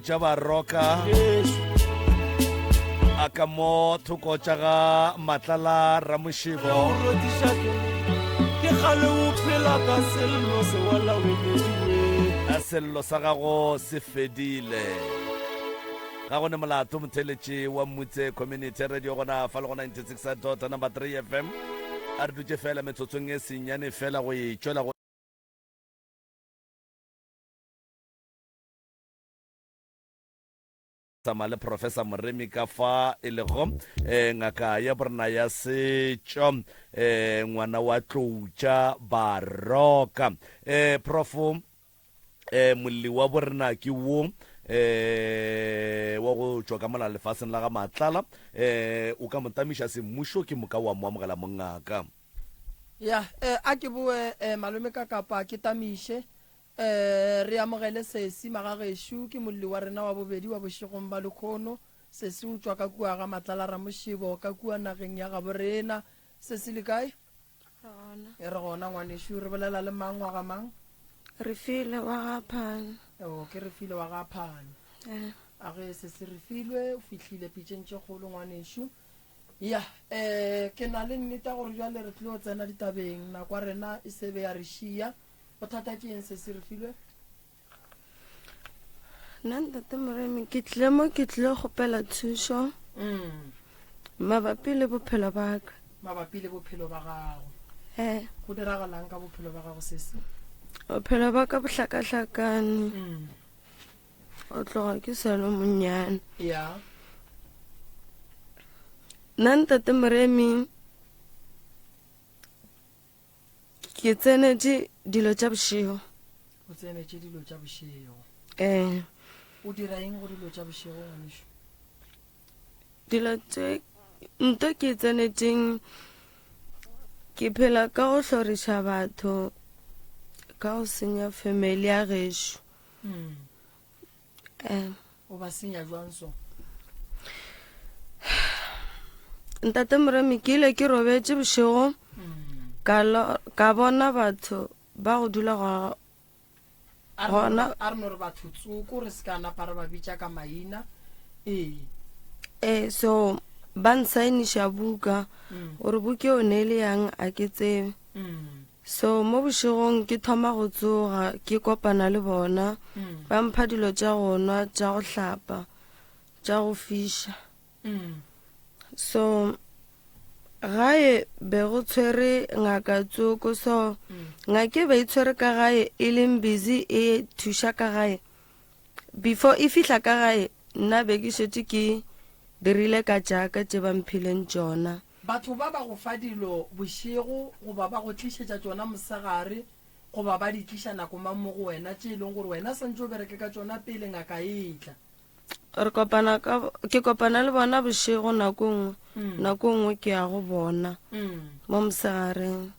tša baroka a ka mo thoko tša ga matlala ramošebo a sello sa gago se fedile ga go ne molato motheletše wa mmutse community radio gona fa le go 96 dot number 3 fm a re dutše fela metsotsong e senyane fela go e tšwela go tsamaya le professor moremi ka fa e lego um ngaka ya borena ya setšo um ngwana wa tloutša baroka um eh, profo um eh, molli wa borena ke wo eh wa go tšwa ka mona lefaseng la ga matlala eh o ka motamiša semmušo ke moka wa mo amogela mongaka ya eh, a ke boe eh, malome ka kapa ke tamiše Ee, re amogele Sesi. Magagešo, ke molli wa rena wa bobedi wa bošegong bja lekhono. Sesi o tšwa ka kua ga Matlalaramošebo, ka kua nageng ya gabo rena. Sesi, le kae? Re gona. E re gona, ngwanešu. Re bolela le mang, wa ga mang? Refilwe, wa ga Phane. Oo, ke Refilwe wa ga Phane. Ee. A ge, Sesi Refilwe, o fihlile pitšeng tše kgolo, ngwanešu. Ya, ee, ke na le nnete ya gore bjale re tlilo tsena ditabeng. Nako ya rena e se be ya re šiya. bothata ke eng se se re filwe nna ntate moremi ke tlile mo ke tlile gopela thušo mm. mabapi le bophelo ba ka mabapi le bophelo ba gago e go diragalang ka bophelo ba gago se se bophelo ba ka bohlakahlakane mm. o tloga ke selo monnyane ya nna ntate moremi ke tsenetše dilo tša bošego o tsenetše dilo tša bošego um o dira eng go dilo tša bošego ngwanešu dilo tše nto ke tsenetšeng ke phela ka go hloriša batho ka go senya family ya gešo mm. um o ba senya jwang so ntate moremi ke ile ke robetse bošego hmm. ka bona batho ba go dula gona a re no re batho tsoko re se ka napa re ba bitša ka maina ee ee so ba nsainiša buka gore hmm. buka o ne e le yang a ke tsebe hmm. So mo bošegong ke thoma go tsoga ke kopana le bona, ba mpha dilo tša go nwa, tša go hlapa, tša go fiša. So gae be go tshwere ngaka tsoko, so ngake be e tshwere ka gae e leng busy e thuša ka gae. Before e fihla ka gae nna be ke šetše ke dirile ka tšaka tše ba mphileng tšona. Batho ba ba go fa dilo bošego goba ba go tlišetša tšona mosegare goba ba di tliša nako mang mo go wena tše e lego gore wena swantše o bereke ka tšona pele ngaka e tla. Re kopana ka, ke kopana le bona bošego nako e nngwe, nako e nngwe ke ya go bona mo mosegareng.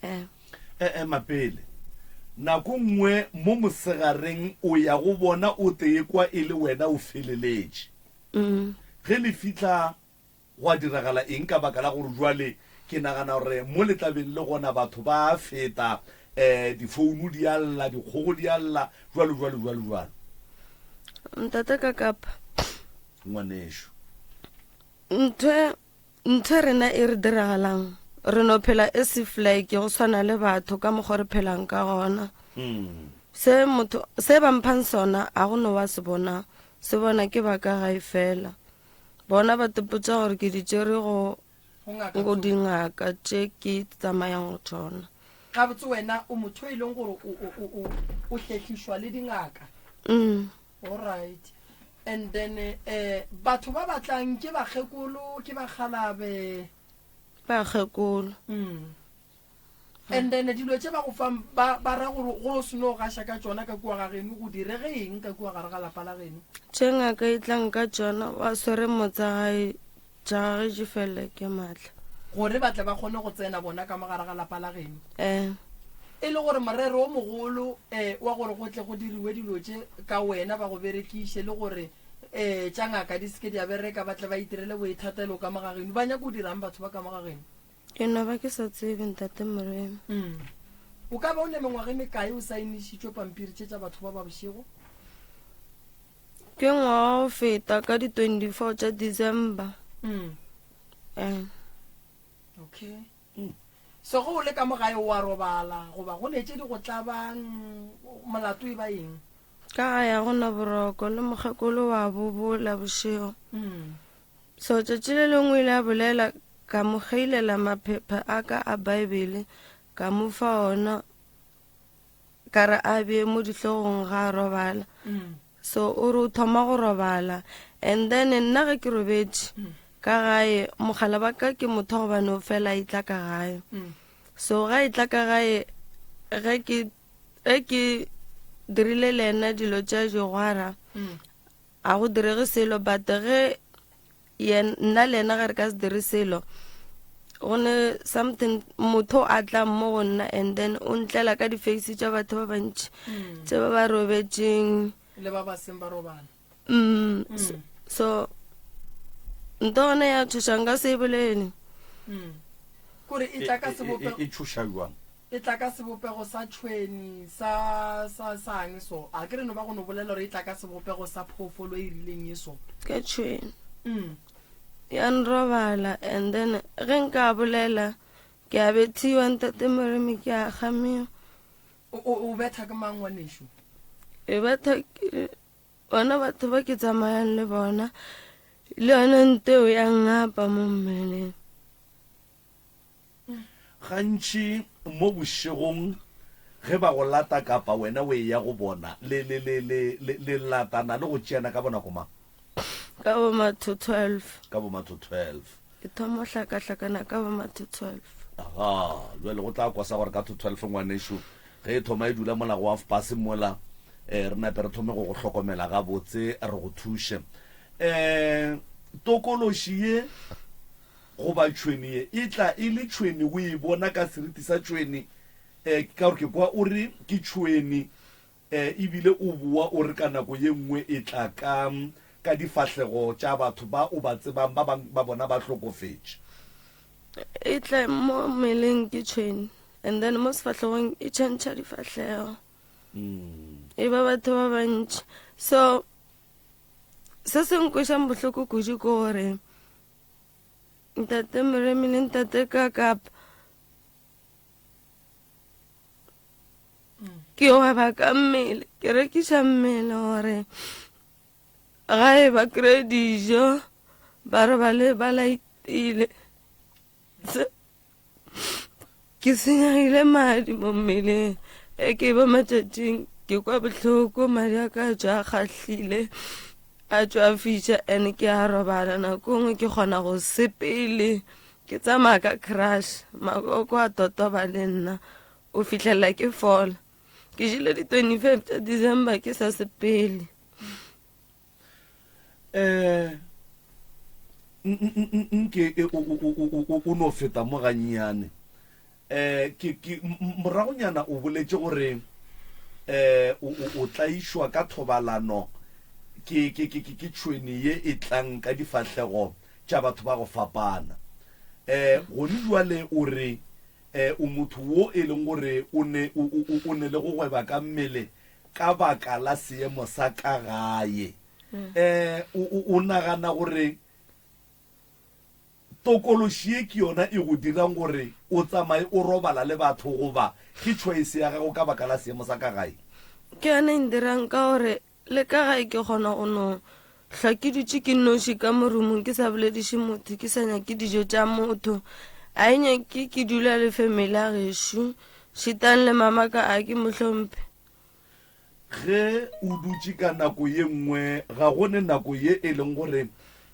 Eh. Eh, ema pele. Nako e nngwe mo mosegareng o ya go bona o tee kwa e le wena o feleletše. Ge le fihla Gwa diragala eng ka baka la gore bjale ke nagana gore mo le tla beng le gona batho ba a feta, eh, difouno di a lla, dikgogo di a lla, bjalo, bjalo, bjalo, bjalo. Ntate ka kapa. Ngwanešu. Ntho, ntho rena e re diragalang, re no phela e se flake go swana le batho ka mokgwa re phelang ka gona. Mm. Se motho, se ba mphang sona, a go no wa se bona, se bona ke ba ka gae fela. Bona ba tepotša gore ke di tšere go go dingaka tše ke tsamayang go tšona. Gabotse wena o motho e leng gore o hlehlišwa le dingaka? Mm. Alright. And then eh batho ba batlang ke bakgekolo, ke bakgalabe? Bakgekolo. Mm. And then dilo tše ba go fang ba, ba ra gore go se no gaša ka tšona ka kua ga geno go direge eng ka kua gare ga lapa la geno tše ngaka e tlang ka tšona wa swere motsa gae jagagetše fela ke maatla gore ba tle ba kgone go tsena bona ka mo gare ga lapa la geno eh e le gore morero o mogolo um wa gore go tle go diriwe dilo tše ka wena ba go berekiše le gore um tša ngaka di seke di a bereka ba tle ba itirele boithatelo ka mo ga geno ba nyako dirang batho ba ka mo ga geno ke no ba ke sa tsebe ntate moremi mm. o ka ba o ne mengwaga e mekae o saenišitšwe pampiri tše tša batho ba ba bošego ke ngwaga o feta ka di-24 tša december mm. eh. okay mm. so go o le ka mo gae wa robala goba go ne tše di go tlabang molato e ba eng ka ga ya go na boroko le mokgekolo wa bobola bošego mm. So tšatši le lengwe ile a bolela ka mo geilela maphepha a ka a Baebele ka mo fa ona ka re a bee mo dihlogong ga a robala mm. so o re o thoma go robala and then nna ge ke robetše mm. ka gae mogala ba ka ke motho gobane o fela e tla ka gae mm. so ga e tla ka gae ge ke ge ke dirile le ena dilo tša jogwara A go direge selo but ge yen nna le yena ge re ka se dire selo go ne something motho a tla mo go nna and then o ntlela ka di-face tša batho ba bantši mm. tse ba ba robetšeng le ba ba seng ba robala mm, mm. so, so nto gone ya thušang ka se e bolele mm. kore e tla ka sebopego e, e, e, e thuša jwang E tla ka sebopego sa tšhwene, sa, sa, sa'ng so. A ke re no ba go no bolela gore e tla ka sebopego sa phoofolo e rileng ye so? Ka tšhwene. Mm. Ya nrobala, and then ge nka bolela, ke a bethiwa, Ntate Moremi, ke a kgamiwa. O, o, o betha ke mang, ngwanešu? E betha ke bona batho ba ke tsamayang le bona, le yone nteo ya ngapa mo mmeleng. Gantši mo bošegong ge ba go lata kapa wena o eya go bona, le, le, le, le, le, le latana le go tšeana ka bonako mang? Ka bo matho 12. Ka bo matho 12. Ke thoma go hlakahlakana ka bo matho 12. Aha, bjale go tla kwa sa gore ka tho 12 ngwanešu, ge e thoma e dula mola go hafpase mola, eh, re nape re thome go go hlokomela gabotse re go thuše. Eh, tokološi ye. Goba tšhwene ye e tla e le tšhwene, o e bona ka seriti sa tšhwene, e, ke ka gore ke kwa o re, Ke tšhwene. E, e bile o boa o re ka nako ye nngwe e tla ka, ka difahlego tša batho ba o ba tsebang, ba bang ba bona ba hlokofetše. E tla mo mmeleng ke tšhwene, and then mo sefahlegong e tšhentšha difahlego, e ba batho ba bantši. So, se se nkweša bohloko kudu ke gore, Ntate Moremi le Ntate Kakap ke gweba ka mmele ke rekiša mmele gore ga e ba kry dijo ba re ba le ba laetile ke senyegile madi mo mmeleng e ke ba matšatšing ke kwa bohloko madi a ka tšwa a kgahlile a tšwa a fiša and ke a robala nako e nngwe ke kgona go sepele ke tsamaya ka crush makoko a totoba le nna o fihlelela ke fola ke jile di 25 tša december ke sa sepele um nke o no feta mo gannyane um moragonyana o boletše gore um o tlaišwa ka thobalano ke tšhwene ye e tlang ka difahlego tša batho ba go fapana um gone jwale o re um o motho wo e leng gore o ne le go gweba ka mmele ka baka la seemo sa ka gae. Um o, o, o nagana gore tokološi ye ke yona e go dirang gore o tsamaye o robala le batho goba ke choice ya gago ka baka la seemo sa ka gae? Ke yona e ndirang ka gore le ka gae ke kgona go no Hlwa ke dutše ke noši ka mo rumong ke sa bolediše motho ke sa nyake dijo tša motho a e nyake ke dula le family ya gešo šetang le mamaka a ke mo hlomphe ge o dutše ka nako ye nngwe ga go ne nako ye e leng gore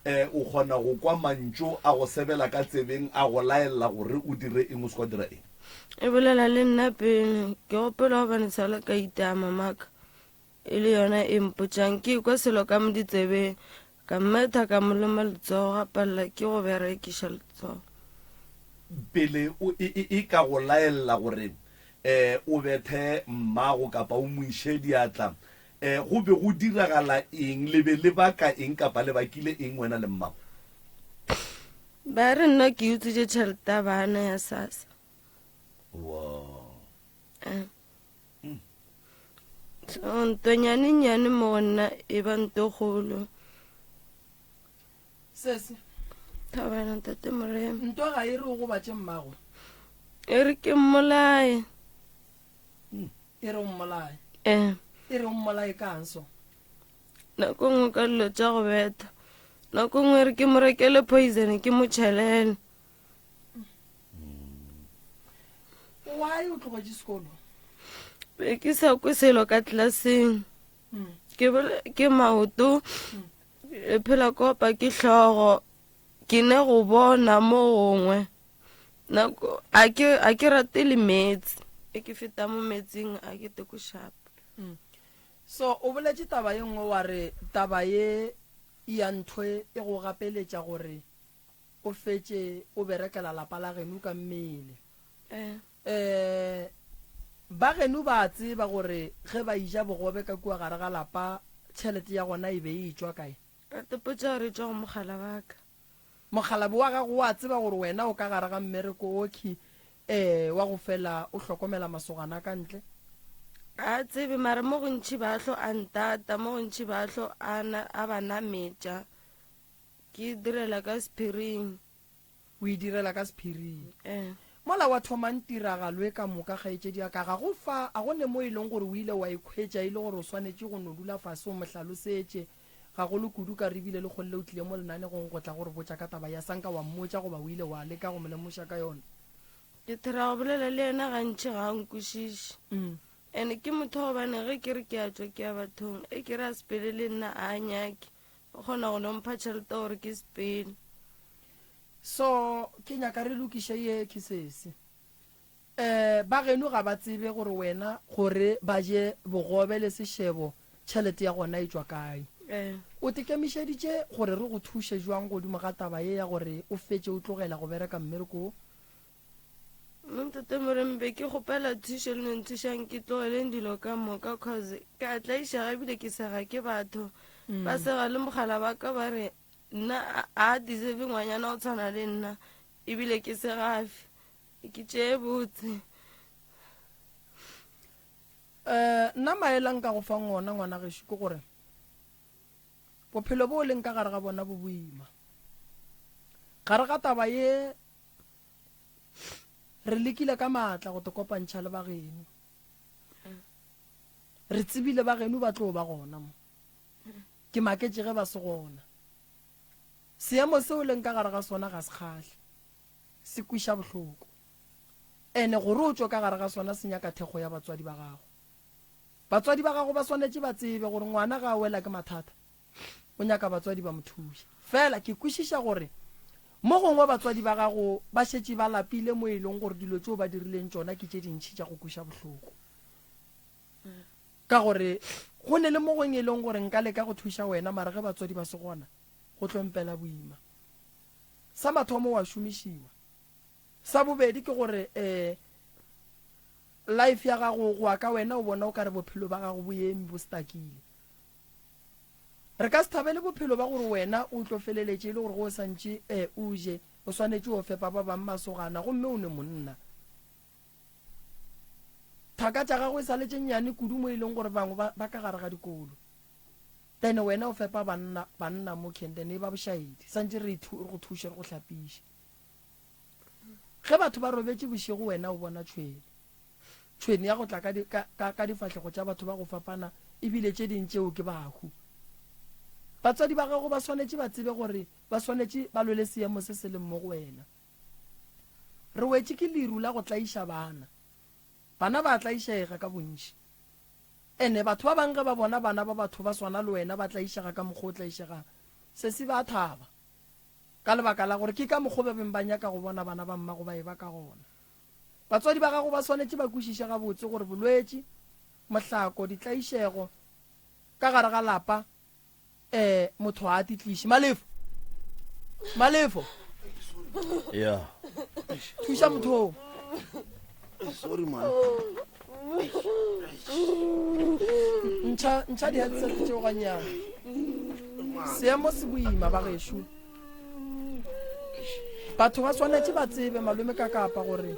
um o kgona go kwa mantšu a go sebela ka tsebeng a go laelela gore o dire eng o se kwa dira eng e bolela le nna pele ke gopela gobane sala ka itaa mamaka e le yona e mpotšang ke kwa selo ka mo ditsebeng ka mmetha ka mo loma letsogo ga palela ke go berekiša letsogo pele o e, e, e ka go laella gore um o bethe mmago kapa o mo iše diatla um go be go diragala eng le be le baka eng kapa le bakile eng wena le mmago ba re nna ke utswitše tšhelete ya bana ya sasa Wow. um so ntwa nyane nyane mo go nna e ba nto kgolo sese thabana ntate morena ntwa ga e re o gobatše mmago e re ke mmolaye e re o mmolaye um e re o mmolaye kang so nako nngwe ka dilo tša go betha nako nngwe e re ke mo rekele poison ke mo tšhelele why o tlogetše sekolo be ke sa kwe selo ka tlelaseng mm. ke bole ke maoto mm. e phela kopa ke hlogo ke ne go bona mo gongwe nako a ke a ke rate le metsi e ke feta mo metsing a ke teko shapa mm. so o boletse taba ye nngwe wa re taba ye ya ntho e go gapeletša gore O fetše o berekela lapa la genu ka mmele. Ee, ba genu ba a tseba gore ge ba eja bogobe ka kua gare ga lapa, tšhelete ya gona e be e etšwa kae? Rate, Potso ya gore e tšwa go mogala wa ka. Mokgalabje wa gago o a tseba gore wena o ka gare ga mmereko okhwi, ee, wa go fela o hlokomela masogana a ka ntle? A a tsebe, mara mo gontši ba tlo a ntata, mo gontši ba tlo a, a ba nametša, Ke direla ka sephiring. O e direla ka sephiring. Ee. Mola wa thomang tiragalo e ka moka, kgaetšedi ya ka, ga go fa, a go ne mo e leng gore o ile wa ikhwetša e le gore o swanetše go no dula fase o mo hlalosetše, gagolo kudu ka re bile lekgole le o tlile mo lenanegong go tla go re botša ka taba ya sa nka wa mmotša goba o ile wa leka go mo lemoša ka yona? Ke thera go bolela le yena gantši ga a nkwešiše. Ene ke motho wa gobane ge ke re ke a tšwa ke ya bathong, e ke re a sepele le nna a a nyake. Ba kgona go no mpha tšhelete gore ke sepele. So ke nyaka re lokiše ye kisses. Um ba geno ga ba tsebe gore wena gore ba je bogobe le sešebo tšhelete ya gona e tšwa kae. O tekemišeditše gore re go thuše jwang godimo ga taba ye ya gore o fetše o tlogela go bereka mmereko wo? Montate Morembe ke kgopela thušo le nenthušang ke tlogeleng dilo ka moka cause ke a tlaiša gabile ke sega ke batho mm. ba sega le mogala ba ka ba re nna a deserve ngwanyana o tshwana le nna ebile ke segafe ke tšee botse um nna maelang ka go fang ona ngwana gešo ke gore Bophelo boo leng ka gare ga bona bo boima. Gare ga taba ye, re lekile ka maatla go te kopantšha le bageno. Re tsebile bageno ba tlo ba gona mo. Ke maketše ge ba se gona. Seemo seo leng ka gare ga sona ga se kgahle. Se kwiša bohloko. Ene gore o tšwe ka gare ga sona se nyaka thekgo ya batswadi ba gago. Batswadi ba gago ba swanetše ba tsebe gore ngwana ga a wela ke mathata, o nyaka batswadi ba mo thuše. Fela ke kwešiša gore mo gongwe batswadi ba gago ba šetše ba lapile mo e lego gore dilo tšeo ba dirileng tšona ke tše dintši tša go kweša bohloko. Ka gore go ne le mo gongwe e lego gore nka leka go thuša wena mara ge batswadi ba se gona go tlo mpela boima. Sa mathomo wa šomišiwa. Sa bobedi ke gore um life ya gago go ya ka wena o bona o ka re bophelo ba gago bo eme bo stakile. Re ka se thabele bophelo ba gore wena o tlo feleletše e le gore go o santše um o je o swanetše o fepa ba bang masogana gomme o ne monna. Thaka tša gago e sa letše nnyane kudu mo e leng gore bangwe ba, ba ka gare ga dikolo then wena o fepa banna, banna mo Kenden e ba bošaedi santše re go thuše re go hlapiše Ge batho ba robetše bošego wena o bona tšhwene. Tšhwene ya go tla ka, di, ka, ka, ka difahlego tša batho ba go fapana ebile tše ding tšeo ke bahu. Batswadi ba gago ba swanetše ba tsebe gore ba swanetše ba lwele seemo se se leng mo go wena. Re wetše ke leru la go tlaiša bana. Bana ba a tlaišega ka bontši. Ene batho ba bangwe ge ba bona bana ba batho ba swana le wena ba tlaišega ka mokgwa o tlaišegang, sesi ba a thaba. Ka lebaka la gore ke ka mokgwa o ba beng ba nyaka go bona bana ba mmago ba e-ba ka gona, batswadi ba gago ba swanetše ba kwešiše gabotse gore bolwetši, mohlako, ditlaišego ka gare ga lapa, ee, motho ga a di tliše. Malefo! Malefo! Thuša motho wo. sorry man ntšha ntšha di headset tšeo ganyana seemo se boima ba gešo batho ba swanetše ba tsebe malome ka kapa gore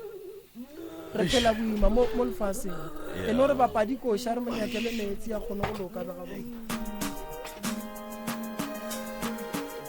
re phela boima mo mo lefaseng e no re bapadi koša re monyakele meetse ya kgone go loka ba gabo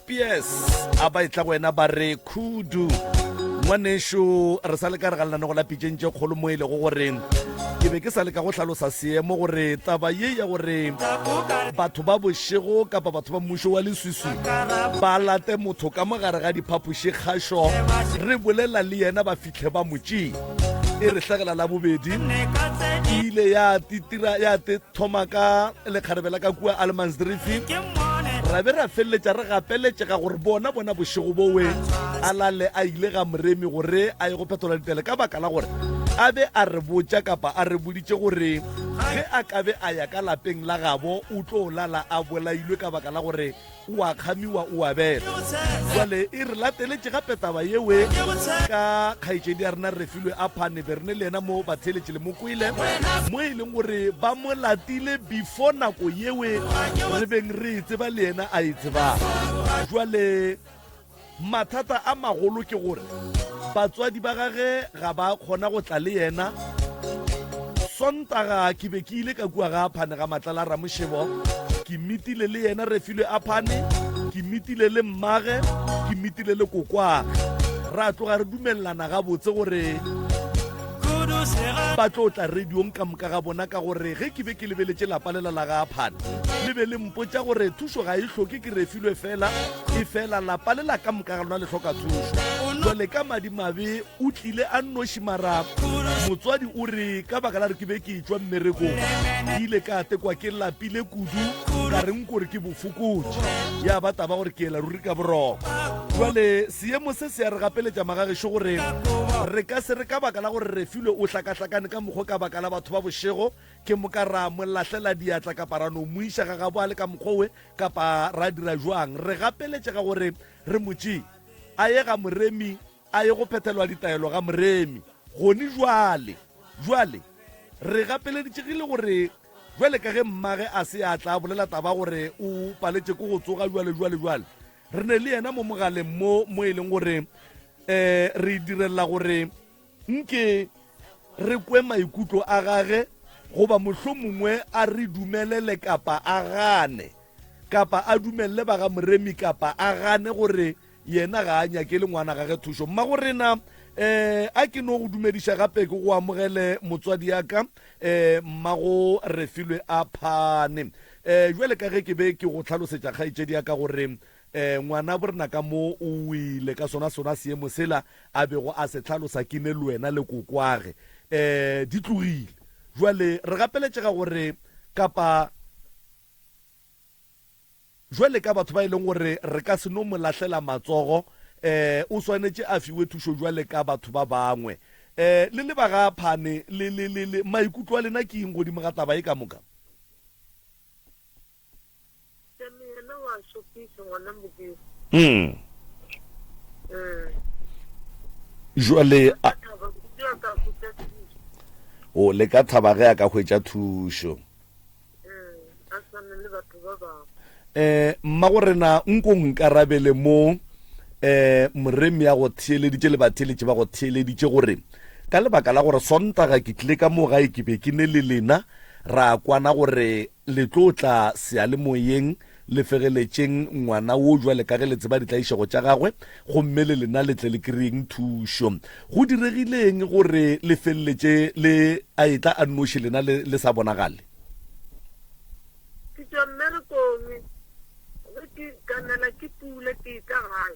Pies a ba etla go wena ba re khudu ngwanešo re sa le ka re ga lenaneo la pitšeng tše kgolo mo e lego gore ke be ke sa leka go hlalosa seemo gore taba ye ya gore batho ba bošego kapa batho ba mmušo wa leswiswi ba late motho ka mo gare ga diphapoši kgašo re bolela le yena ba fitlhe ba motšee e re hlagela la bobedi e ile ya titira ya te thoma ka lekgarebe la ka kua almansdrifi ra be ra feleletša re gapeletšega gore bona bona bošego bowe a lale a ile ga moremi gore a ye go phetola ditele ka baka la gore a be a re botša kapa a re boditše gore ge a ka be a ya ka lapeng la gabo o tlo lala a bolailwe ka baka la gore o a kgamiwa o a bela jale e re lateletše gape taba yewe ka kgaetšedi ya rena refilwe a phane be rene le yena mo batheletše le mokwele mo e leng gore ba mo latile before nako yewe re beng re e tseba le yena a e tsebang jale Mathata a magolo ke gore batswadi ba gage ga ba a kgona go tla le yena. Sontaga ke be ke ile ka kua ga Aphane ga Matlala Ramošebo. Ke mitile le yena Refilwe Aphane, ke mitile le mmage, ke mitile le kokwage. Ra tloga re dumelelana gabotse gore ba tlo tla radiong ka moka ga bona ka gore ge ke be ke lebeletše lapa lela la ga Aphane le be le mpotša gore thušo ga e hloke ke Refilwe fela efela lapa le la ka moka ga lona le hloka thušo jale ka madimabe o tlile a nnoši mara motswadi o re ka baka la re ke be ke tswa mmerekong ke ile ka tekwa ke lapile kudu ka reng kore ke bofokotši ya ba taba gore ke ela ruri ka boroko jale seemo se se ya re gapeletša magagešo gore re ka se re ka baka la gore re filwe o hlakahlakane ka mokgwa ka baka la batho ba bošego ke moka ra mo lahlela diatla kapa ra no mo iša ga gabo a le ka mokgwa we Kapa ra dira joang? Re gapeletše ka gore re mo tšee, a ye ga moremi, a ye go phethelwa ditaelo ga moremi. Gone jwale, jwale, re gapeleditšegile gore jwale ka ge mmage a se a tla bolela taba gore o paletše ke go tsoga jwale, jwale, jwale, re ne le yena mo mogaleng mo, mo e leng gore um re direlela gore Nke re kwe maikutlo a gage, goba mohlomongwe a re dumelele kapa a gane, kapa a dumelele ba ga Moremi kapa a gane gore yena ga a nyakele ngwana gage thušo. Mmago rena, um a ke no go dumediša gape ke go amogele motswadi ya ka, um Mmago Refilwe Aphane. Um jwale ka ge ke be ke go hlalosetša kgaetšedi ya ka gore E, ngwana borena ka mo o wile ka sona sona seemo sela a bego a se tlhalosa ke ne lwena le kokwage e, di tlogile jwale re gapeletšega gore kapa jwale ka batho ba e leng gore re ka se no mo lahlela matsogo e, o swanetše a fiwe thušo jwale ka batho ba bangwe e, le le baga phane le, le, le, le maikutlo a lena ke eng godimo ga taba e ka moka Samiyana wa šopiša ngwana Modimo. Mm. Mm. Jwale a, Ka thaba kudu ya ka hwetša thušo. o le ka thaba ge a ka hwetša thušo. Mm. A swane le batho ba bangwe. Eh, mmago rena nko nkarabele mo eh moremi ya go theeleditše le batheeletše ba go theeleditše gore ka lebaka la gore sontaga ke tlile ka mo gae ke be ke ne le lena ra kwana gore Le tlo tla seyalemoyeng, le fegeletšeng ngwana wo bjale ka ge le tseba ditlaišego tša gagwe, gomme le lena le tle le kry-eng thušo. Go diregile eng gore le feleletše le a etla a nnoši lena le, le sa bonagale? Ke tšwa mmerekong. Ge ke ganela ke pula, ke etla gae.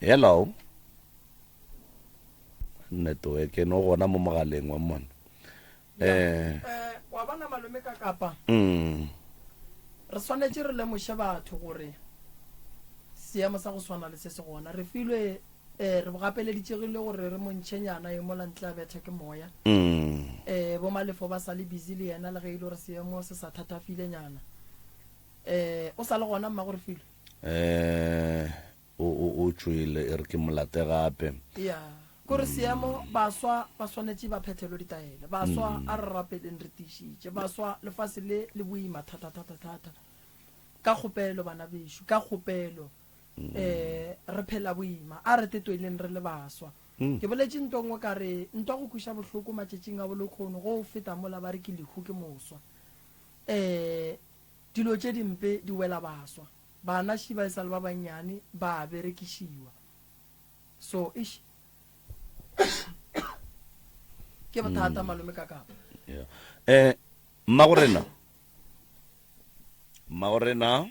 Hello. Network e no gona mo mogaleng wa mona. Eh. eh wa bona malome ka kapa. Mm. Re swanetse re lemoshe batho gore seemo sa go swana le se se gona re filwe eh re bogapeleditsegile gore re montšhenyana e mola ntle a bethe ke moya mm. eh bo malefo ba sa le busy le yena le ge e le gore seemo se sa thathafilenyana eh o sa le gona mma gore filwe Eh, o, o, o tšwele, e re ke mo late gape. Ya, kore seemo, baswa ba swanetše ba phethelwe ditaelo. Baswa, a re rapeleng re tiišitše. Baswa, lefase le, le boima thata, thata, thata. Ka kgopelo, bana bešo, ka kgopelo, eh, re phela boima. A re tetoeleng re le baswa. Ke boletše ntwa nngwe ka re, ntwa go kweša bohloko matšatšing a bolokhono, go feta mola ba re ke lehu, ke moswa. Eh, Dilo tše dimpe di wela baswa. Bana shi ba e sa le ba bannyane ba a berekišiwa. So, eish. Ke bothata malome ka kapa. Yeah. Eh, Mmagorena. Mmagorena.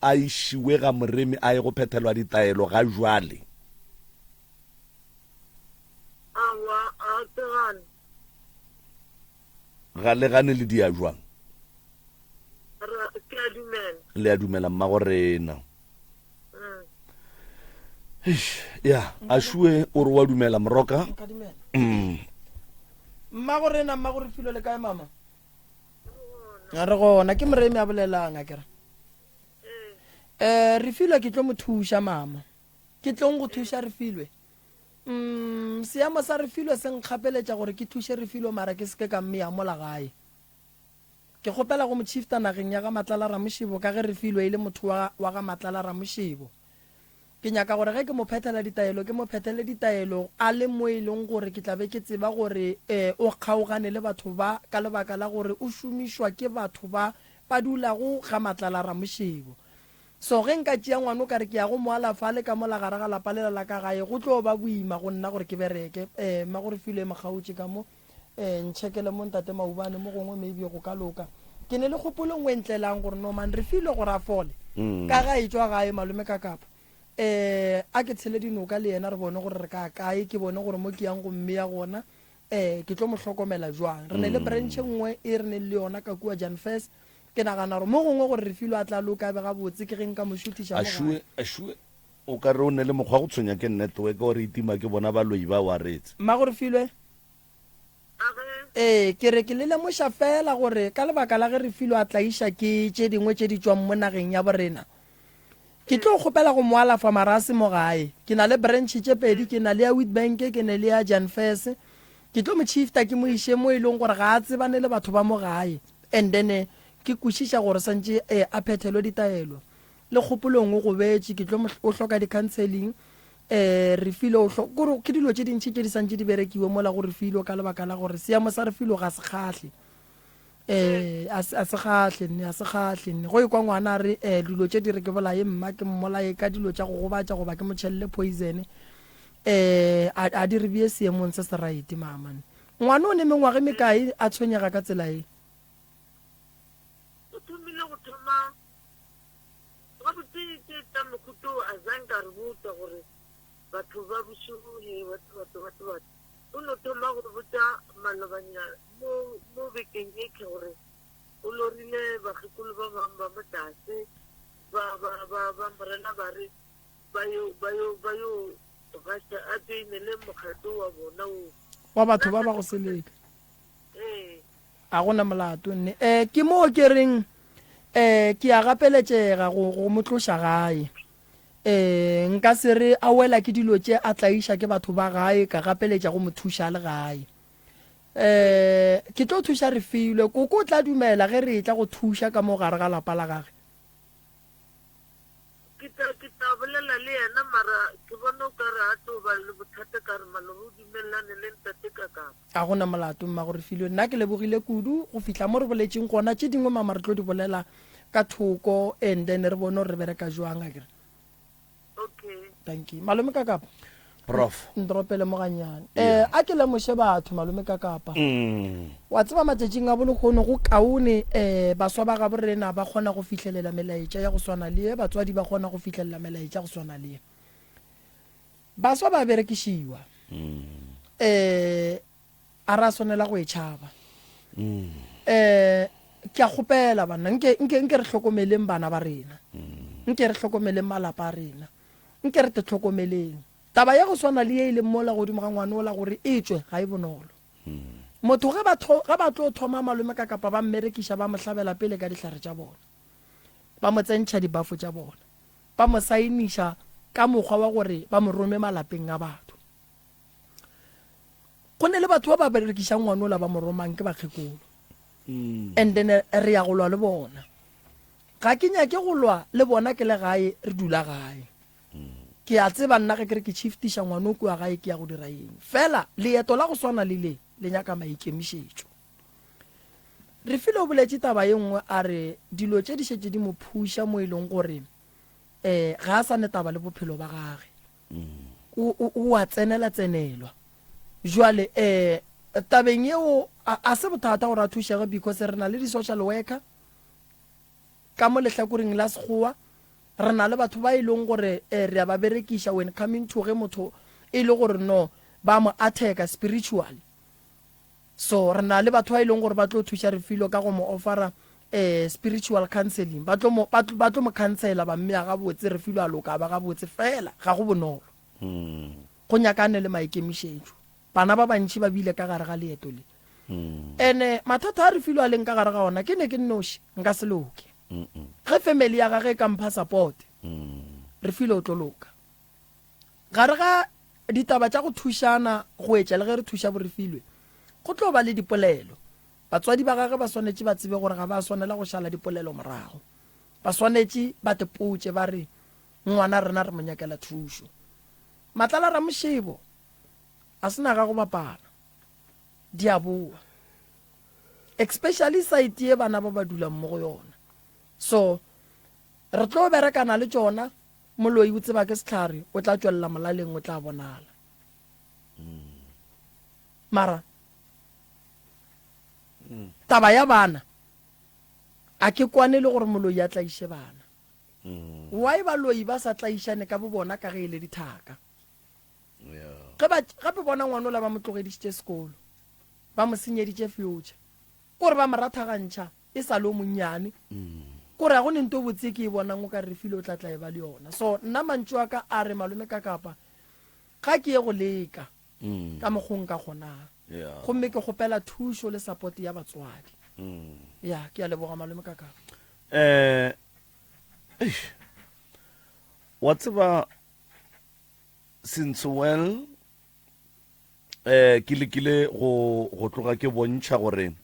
a išiwe ga Moremi a ye go phethelwa ditaelo ga jwale. Aowa, a ke gane. Ga le gane le dia jwang? Ra, ke a dumela. Le a dumela, mmagorena. Mm. Eish, ya, a šue o re wa dumela, Moroka. Nka dumela. Mm. Mmagorena, Mmagorefilwe, le kae, Mama? re gona ke moremi a bolelang a kere um re filwe ke tlo mo thuša mama ke tlong go thuša re filwe um seemo sa re filwe se nkgapeletša gore ke thuše re filwe mara ke seke ka mme ya mola gae ke kgopela go mochifta nageng ya ga matlala ramošebo ka ge re filwe e le motho wa ga matlala ramošebo Ke nyaka gore ge ke mo phethela ditaelo ke mo phethele ditaelo a le mo e leng gore ke tla be ke tseba gore ee o kgaogane le batho ba ka lebaka la gore o šomišwa ke batho ba ba dulago ga matlala ramošebo. So ge nka tšea ngwano ka re ke ya go mo alafa a le ka mola gare ga lapa lela la ka gae go tlo ba boima go nna gore ke bereke. Ee, Mmagorefilwe e mo kgaotše ka mo. Ee, ntšhekele mo Ntate Maubane, mo gongwe maybe go ka loka. Ke ne le kgopolong o e ntlelang gore Norman Refilwe gore a fole, ka ge a etšwa gae malome ka Kapa, um a ke tshele dinoka le yena re bone gore re ka ya kae, ke bone gore mo ke yang go mmea gona, um ke tlo mo hlokomela jwang. Re ne le branch e nngwe e re neng le yona ka kua Janfes. Ke nagana gore mo gongwe gore Refilwe a tla loka be gabotse ke ge nka mo šuthiša mo gae. O ka re o nele mokgwa go tshwenya ke network or e tima ke bona baloi ba waretse. Mmago Refilwe, Ee, ke re ke le lemoša feela gore ka lebaka la ge Refilwe a tlaiša ke tše dingwe tše di tšwang mo nageng ya borena, ke tlo kgopela go mo alafa marase mo gae. Ke na le branch tše pedi, ke na le ya Witbank ke ne le ya Jan Fess. Ke tlo mo shifta ke mo iše mo e leng gore ga a tsebane le batho ba mo gae and then ke kwešiša gore santše a phethelwe ditaelo. Le kgopolong o gobetše, ke tlo o hloka di-counselling. Refilwe o hlo, kore ke dilo tše dintši tše di santše di berekiwe mola go Refilwe ka lebaka la gore seemo sa Refilwe ga se kgahle. A se, a se kgahle nne, a se kgahle nne. Go ekwa ngwana a re dilo tše di re ke bolaye mma, ke mmolaye ka dilo tša go gobatša goba ke mo tšhelele poison. A, a di re bee seemong se se right mama nne. Ngwana o ne mengwaga e mekae a tshwenyega ka tsela ye? O thomile go thoma gabotse ke etla mohuta o a zanka a re botsa gore batho ba bošego he batho batho batho batho o no thoma go botsa malobanya mo mo bekeng ye tlhe gore o lorile bakgekolo ba bangwe ba mo tlase ba ba ba ba morena ba re ba yo ba yo ba yo gasa a tšoinele mokgatlo wa bona o wa batho ba ba go seleka ee Ga go na molato, nne. Ee, ke moo ke reng, Ee, ke a gapeletšega go, go mo tloša gae. Ee, nka se re a wela ke dilo tše a tlaiša ke batho ba gae, ka gapeletša go mo thuša a le gae. Ee, ke tlo thuša Refilwe. Koko o tla dumela ge re etla go thuša ka mo gare ga lapa la gage? Ke tla, ke tla bolela le yena, mara ke bona o ka re a tlo ba le bothata ka re maloba o dumelelane le ntate ka kapa. Ga go na molato, Mmago Refilwe. Nna ke lebogile kudu go fihla mo re boletšeng gona. Tše dingwe mama re tlo di bolela ka thoko and then re bone gore re bereka jwang, akere? Okay. Dankie. Malome ka kapa? prof ndropele moganyane eh a ke lemoshe batho malome ka kapa mm. wa tseba matšatšing a bolegono go kaone eh baswa ba gabo rena ba kgona go fihlelela melaetša ya go swana le batswadi ba kgona go fihlelela melaetša go swana le baswa ba berekišiwa mm. eh a ra swanela go e tšhaba mm. eh ke a kgopela banna nke nke nke re hlokomeleng bana ba rena mm. nke re hlokomeleng malapa a rena Nke re tle tlhokomeleng taba ya go swana le ye e leng mola godimo ga ngwane ola gore e tšwe ga e bonolo. Motho ge ba, ge ba tlo thoma malome ka kapa ba mmerekiša ba mo hlabela pele ka dihlare tša bona, ba mo tsentšha dibafo tša bona, ba mo saeniša ka mokgwa wa gore ba mo rome malapeng a batho. Go ne le batho ba ba berekišang ngwane ola ba mo romang ke bakgekolo and then re ya go lwa le bona. Ga ke nyake go lwa le bona ke le gae, re dula gae. Ke a tseba nna ge ke re ke tšhiftiša ngwana o kua gae ke ya go dira eng. Fela leeto la go swana le le, le nyaka maikemišetšo. Refilwe o boletše taba ye nngwe a re dilo tše di šetše di mo phuša mo e leng gore um ga a sa ne taba le bophelo ba gage. O, o, o a tsenela-tsenelwa. Jwale um tabeng yeo a, a se bothata gore a thušege because re na le di-social worker Ka mo lehlakoreng la Sekgowa, re na le batho ba e leng gore eh, re a ba berekiša when coming to ge motho e le gore no ba mo atheka spiritually. So re na le batho ba e leng gore ba tlo thuša Refilwe ka go mo offera eh, spiritual counseling. Ba tlo mo, ba tlo, ba tlo mo khansela ba mmea gabotse, Refilwe a loka a ba gabotse. Fela ga go bonolo, go nyaka a ne le maikemišetšo. Bana ba bantši ba bile ka gare ga leeto le. Ene mathata a re filo a leng ka gare ga ona, ke ne ke nnoši, nka se loke. Ge family ya gage e ka mpha support, re filo o tlo loka. Gare ga ditaba tša go thušana go etša le ge re thuša Borefilwe, go tlo ba le dipolelo. Batswadi ba gage ba swanetše ba tsebe gore ga ba swanela go šala dipolelo morago. Ba swanetše ba tepotše ba re, Ngwana rena re mo nyakela thušo. Matlala Ramošebo, a se na ga go bapala. Di a bowa. Especially site ye bana ba ba dulang mo go yona. So, re tlo berekana le tšona, moloi o tseba ke sehlare, o tla tšwelela molaleng, o tla bonala. Mara, taba ya bana, a ke kwane le gore moloi a tlaiše bana. Why baloi ba sa tlaišane ka bo bona ka ge e le dithaka? Ge ba gape bona ngwanola ba mo tlogedišitše sekolo, ba mo senyeditše future. Ke gore ba mo rathagantšha e sa le o monnyane. Ke gore ga go ne nto e botse e ke e bonang o ka re Refilwe o tla tla e ba le yona. So nna mantšu a ka a re Malome Kakapa ga ke ye go leka ka mokgo nka kgonang. Gomme ke kgopela thušo le support ya batswadi. Ya, ke a leboga Malome Kakapa. Eish. Wa tseba. since well eh ke lekile go go tloga ke bontšha gore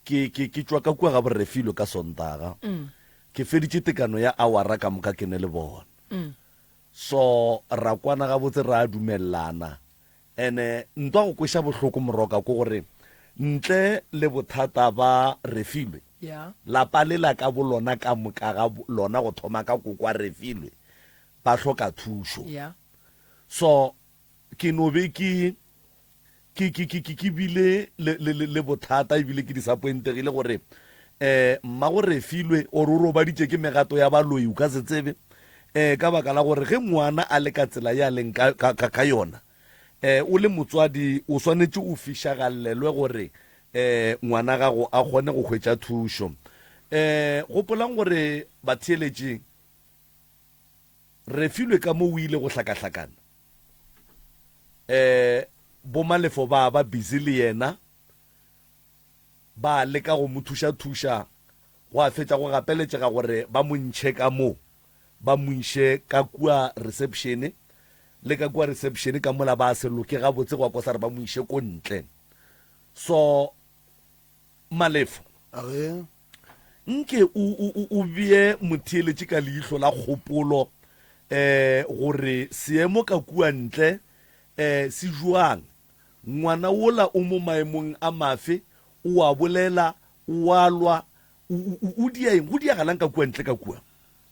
ke ke ke tswa ka kua ga borefilo ka sontaga mm. ke feditše tekano ya awara ka moka ke ne le bona mm. so ra kwana gabotse ra dumelelana And-e ntwa go kweša bohloko moroka ko gore ntle le bothata ba Refilwe, lapa lela ka bolona ka moka ga lona go thoma ka kokwa Refilwe ba hloka thušo. So ke no be ke ke ke ke ke ke bile le le le le bothata e bile ke disappointegile gore eh mmago Refilwe or o robaditše ke megato ya baloyi o ka se tsebe Ee, ka baka la gore ge ngwana a le ka tsela ye a leng ka, ka, ka, ka yona, e, o le motswadi o swanetše o fišagallelwe gore e, ngwana gago a kgone go hwetša thušo. E, gopolang gore batheeletši re filwe ka mo o ile go hlakahlakana. E, bomalefo ba ba busy le yena. Ba leka go mo thušathuša, gwa fetša go gapeletšega gore ba mo ntšhe ka moo, ba mo iše ka kua resepšene. Le ka kua resepšene ka mola ba se loke gabotse, gwa kosa re ba mo iše ko ntle. So, Malefo, A re, nke o, o, o, o bee motheeletši ka leihlo la kgopolo, um gore seemo ka kua ntle um se bjang. Ngwana wola o mo maemong a mafe? O a bolela? O a lwa? O, o, o, o dia eng? Go diagalang ka kua ntle ka kua?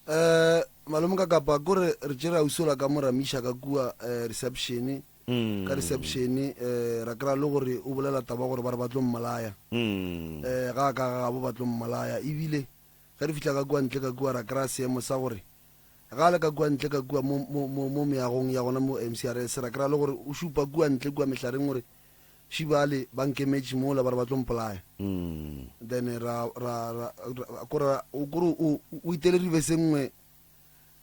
Uh, malome ka kapa kore re tšere ausi ola ka mo ramiša ka kua uh, reception, Mm. ka reception, uh, ra kra le gore o bolela taba gore ba re ba tlo mmolaya, Mm. uh, ga a ka ga gabo ba tlo mmolaya. Ebile ge re fihla ka kua ntle ka kua ra kra seemo sa gore Ge a le ka kua ntle ka kua mo, mo, mo, mo meagong ya gona mo MCRS, ra kry-a le gore o šupa kua ntle kua mehlareng gore, She bale ba nkemetše mola ba re ba tlo mpolaya. Then ra, ra, ra, ra, kore ra, o, kore o, o itele rivese e nngwe,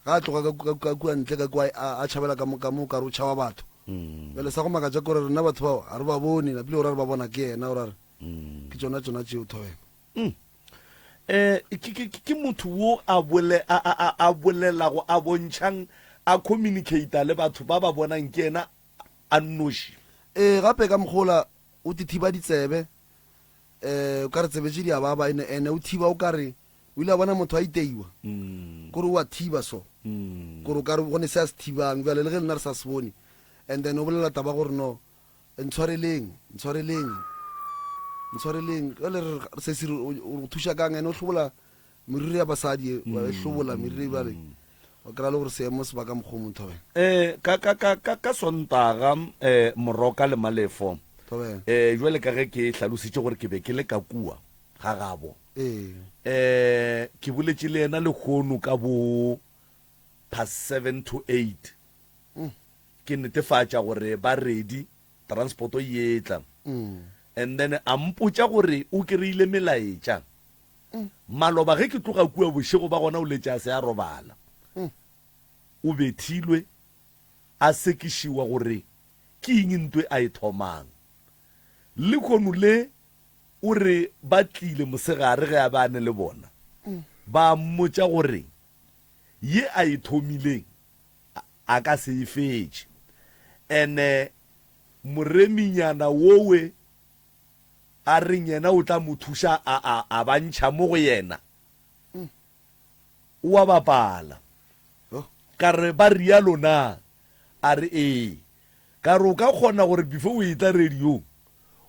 ge a tloga ka, ka, ka kua ntle ka kua a, a tšhabela ka mo, ka mo kare o tšhaba batho. Bjale sa go makatša kore rena batho bao ga re ba bone, napile o ra re ba bona ke yena, o ra re, Ke tšona, tšona tšeo, Thobela. um ke, ke, ke motho wo a bole a a a bolelago a bontšhang a communicata le batho ba ba bonang ke yena a nnoši. Ee, gape ka mokgwa ola o tithiba ditsebe, um o ka re tsebe tše di a baba, ene, ene o thiba o ka re, o ile a bona motho a iteiwa, kore o a thiba so, kore o ka re go ne se a se thibang bjale, le ge lena re sa se bone, and then o bolela taba gore no, Ntshwareleng, ntshwareleng, ntshwareleng. Jwale re re, sesi re, o o re thuša kang? Ene o hlobola meriri ya basadi, e, wa e hlobola meriri bjale. Wa kry-a le gore seemo se ba ka mokgwa o mong, Thobela. Eh, ka, ka, ka, ka, ka Sontaga, eh, Moroka le Malefo, Thobela. eh, jwale ka ge ke hlalositše gore ke be ke le ka kua ga gabo, Ee. eh, ke boletše le yena lehono ka bo past seven to eight, Ke netefatša gore ba ready, transporto e etla. And then a mpotša gore o kry-ile melaetša. Maloba ge ke tloga kua bošego ba gona o letše a se a robala. O bethilwe, a sekišiwa gore ke eng ntwe a e thomang. Lehono le o re ba tlile mosegare ge a be a ne le bona, ba mmotša gore ye a e thomileng, A ka se e fetše. And moreminyana wowe a reng yena o tla mo thuša a, a, a ba ntšha mo go yena. O a bapala. Ka re, Ba realo na? A re, Ee. Ka re, O ka kgona gore before o etla radiong,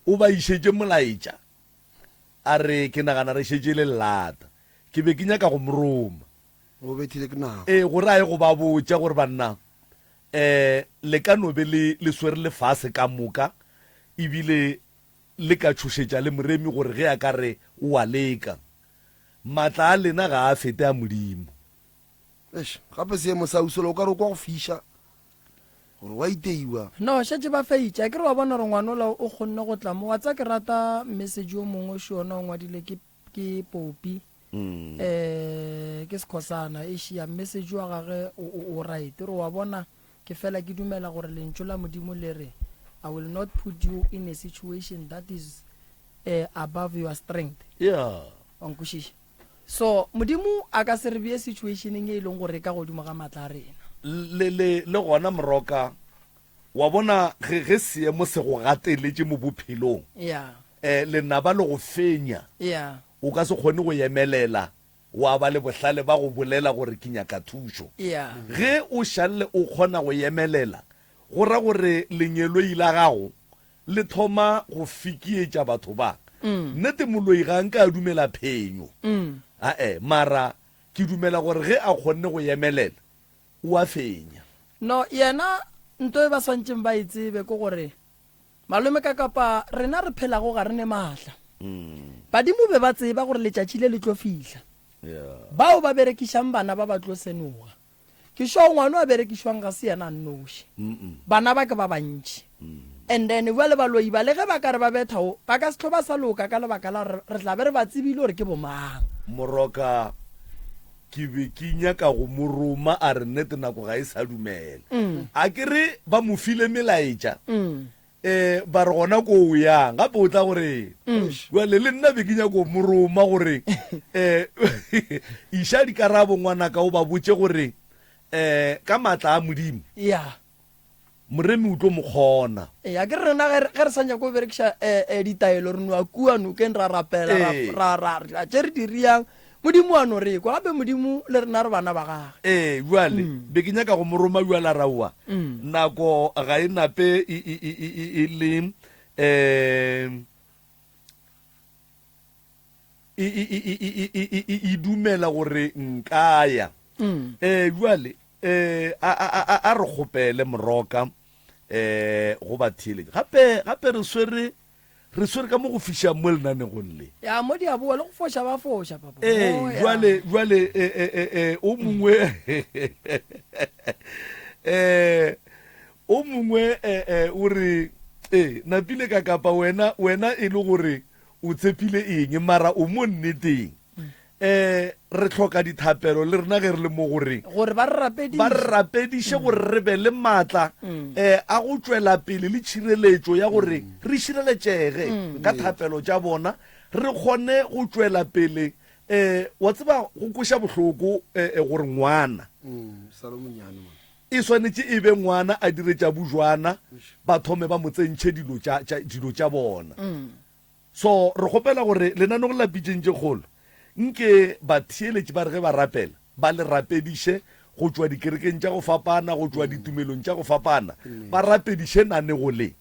o ba išetše molaetša? A re, Ke nagana re šetše le lata. Ke be ke nyaka go mo roma. Go bethile ke nako. Ee, go raye go ba botša gore, Banna, um le ka no be le, le swere lefase ka moka, e bile le ka tšhošetša le moremi gore ge a ka re o a leka. Matla a lena ga a fete a Modimo. Eish, gape seemo sa Usola o ka re o kwa go fiša, gore wa iteiwa. No, šetše ba feitše. A ke re wa bona gore ngwanola o kgonne go tla mo? Wa tseba ke rata message wo mongwe o šona o ngwadile ke ke popi um ke sekhosana ešia mme se joa gage o, o, o right re wa bona ke fela ke dumela gore lentšu la modimo le re i will not put you in a situation that is uh, above your strength yeah wa nkwešiša so modimo a ka se re bee situationeng e e leng gore e ka godimo ga maatla a rena L- le le le gona moroka Wa bona, ge, ge seemo se go gateletše mo bophelong, Yeah. eh, lenaba le go fenya, Yeah. o ka se kgone go emelela wa ba le bohlale ba go bolela gore ke nyaka thušo. Yeah. Ge o šalle o kgona go emelela, go ra gore lengeloi la gago le thoma go fikietša batho ba. Nnete, moloi ga a nke a dumela phenyo. Ae, mara ke dumela gore ge a kgonne go emelela, o a fenya. No, yena, nto e ba swantšeng ba e tsebe ke gore, malome ka kapa rena re phelago ga re ne maatla. Badimo be ba tseba gore letšatši le le tlo fihla. Bao ba berekišang bana ba ba tlo senoga. Ke šoo ngwano a berekišwang ga se yena a nnoši. Bana ba ke ba bantši. And then, bjale baloyi ba, le ge ba ka re ba betha wo, ba ka se tlo ba sa loka ka lebaka la gore re tla be re ba tsebile gore ke bomang. Moroka, Ke be ke nyaka go mo roma, a re nnete nako ga e sa dumela. A ke re ba mo file melaetša, eh, ba re gona ko o yang, gape o tla go rena. Bjale le nna be ke nyaka go mo roma gore, eh, iša dikarabo ngwanaka o ba botše gore, eh, ka maatla a Modimo, Yeah. Moremi o tlo mo kgona. Ee, a ke re rena ge re sa nyako go berekiša ditaelo, re no a kua nokeng ra rapela, ra ra ra tše re di riang, Modimo wa no re kwa, gape Modimo le rena re bana ba gage. Ee, bjale be ke nyaka go mo roma bjale a raowa, nako ga e nape e le. e dumela gore nkaya um eh, jwale um a re kgopele moroka um go batheeletša gape gape re swere re swere ka mo go fišang mo lenanegong le ya mo diaboa le go foša ba foša papa ee oh, jwale jwale e, e, e, o mongwe um o mongwe o re ee napile ka kapa wena wena e le gore O tshepile eng, mara o mo nneteng. Um re hloka dithapelo le rena ge re le mo go reng, gore ba re rapediše, ba re rapediše gore re be le maatla um a go tšwela pele le tšhireletšo ya gore re šireletšege ka thapelo tša bona, re kgone go tšwela pele. Um wa tseba go kweša bohloko um gore ngwana. E swanetše e be ngwana a dire tša bujwana, ba thome ba mo tsentšhe dilo tša, tša, dilo tša bona. So, re kgopela gore lenanong la Pitšeng tše Kgolo, nke batheeletši ba re ge ba rapela, ba le rapediše go tšwa dikerekeng tša go fapana, go tšwa ditumelong tša go fapana, ba rapediše nanego le.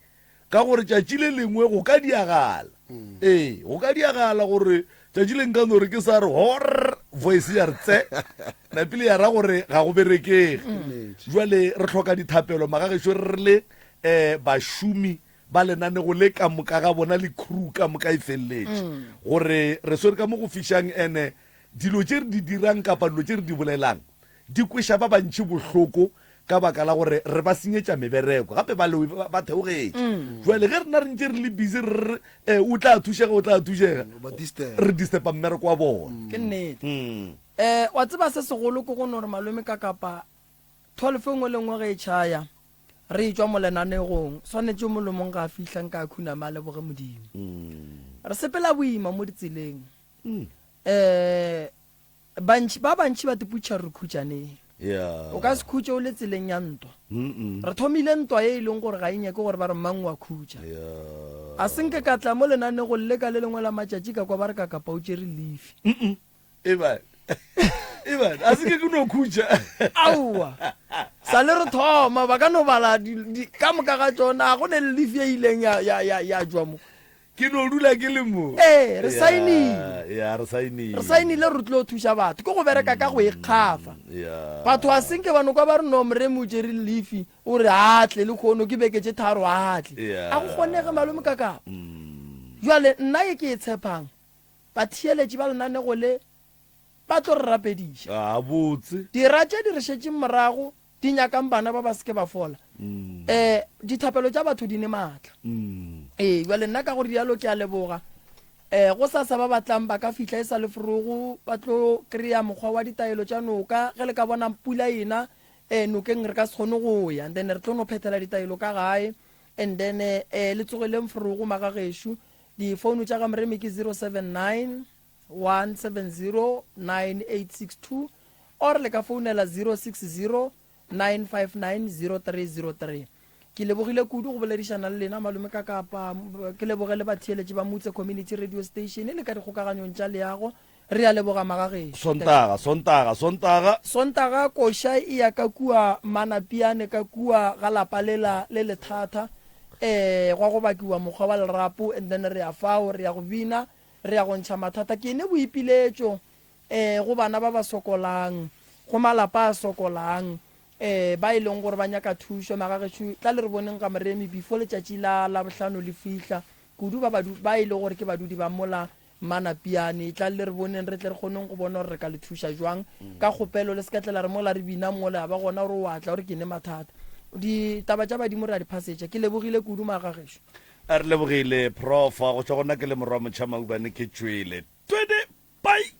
ka gore tšatši le lengwe go ka diagala ee go ka diagala gore tšatši le nka no re ke sa re hor voice ya re tse napile ya ra gore ga go berekege jwale re tlhoka dithapelo magagešo re le um bašomi ba lenanego le ka moka ga bona le crew ka moka e feleletše gore re swere ka mo go fišang ene dilo tše re di dirang kapa dilo tše re di bolelang di kweša ba bantšhi bohloko ka baka la gore re ba senyetša mebereko gape balewi ba theogetše jale ge rena re ntše re le busy re re um o tla thušega o tla thušega re disturba mmereko wa bona ke nnete um wa tseba se segolo ke go no re malome ka kapa tholofo engwe le ngwe ge e tšhaya re e tšwa molenanegong swanetše molomong ga a fihla nka khuname a leboge modimo re sepela boima mo ditseleng um Bantši, ba bantši ba tiputša re khutšaneng. O ka se khutše o le tseleng ya ntwa. Re thomile ntwa ye e leng gore ga e nyake gore ba re mang o a khutša. A se nke ka tla mo lenanegong le ka le lengwe la matšatši ka kwa ba re ka kapa o tšere lifi. Aowa. Sa le re thoma, ba ka no bala ka moka ga tšona, ga go ne le lifi ye e ileng ya tšwa mo. Ke no dula ke le mo. Ee, re Yeah, saenile. yeah, re saenile. Re saenile re tlo thuša batho. Ke go bereka ka go ikgafa. Yeah. Batho a senke ba no kwa ba re no mreme o tšere lefi o re a tle le kgono ke beke tše tharo a tle. Yeah. A go kgonege malome ka ka. Mm. Jwale nna ye ke e tshepang batheeletši ba lenanego le ba tlo re rapediša. Gabotse. Dira tše di re šetšeng morago Di nyakang bana ba ba se ke ba fola. Eh, dithapelo tša batho di ne maatla. Ee, bjale nna ka go rialo ke a leboga. Eh, go sa sa ba batlang ba ka fihla e sa le forogo, ba tlo kry-a mokgwa wa ditaelo tša noka. Ge le ka bona pula ena, eh, nokeng re ka se kgone go ya, and then re tlo no phethela ditaelo ka gae. And then eh, le tsogeleng forogo, magagešo. Difounu tša ga Moremi ke 079. 1709862 or le ka founela 0609590303. Ke lebogile kudu go boledišana le lena malome ka kapa ke leboge le batheeletši ba Mutse Community Radio Station le ka dikgokaganyong tša leago re a leboga magagešo. Sontaga, Sontaga, Sontaga. Sontaga koša e ya ka kua Manapiane ka kua ga lapa lela le lethata. Eh, gwa go bakiwa mokgwa wa lerapo and then re ya fao re ya go bina. Re ya go ntšha mathata ke ne boipiletšo um go bana ba ba sokolang, go malapa a sokolang um ba e leng gore ba nyaka thušo. Magagešo, tla le re boneng ga Moremi before letšatši la Labohlano le fihla, kudu ba badu, ba e lego gore ke badudi ba mola Manapiane. Tla le re boneng re tle re kgoneng go bona gore re ka le thuša jwang. Ka kgopelo le se ka tla la re mola re bina mola ya ba gona gore o a tla gore ke ne mathata. Ditaba tša badimo re a di phasetša. Ke lebogile kudu Magagešo. A re lebogile prof. Go tšwa go nna ke le morwa motšha maubane ke tšwele. Twede! Bye!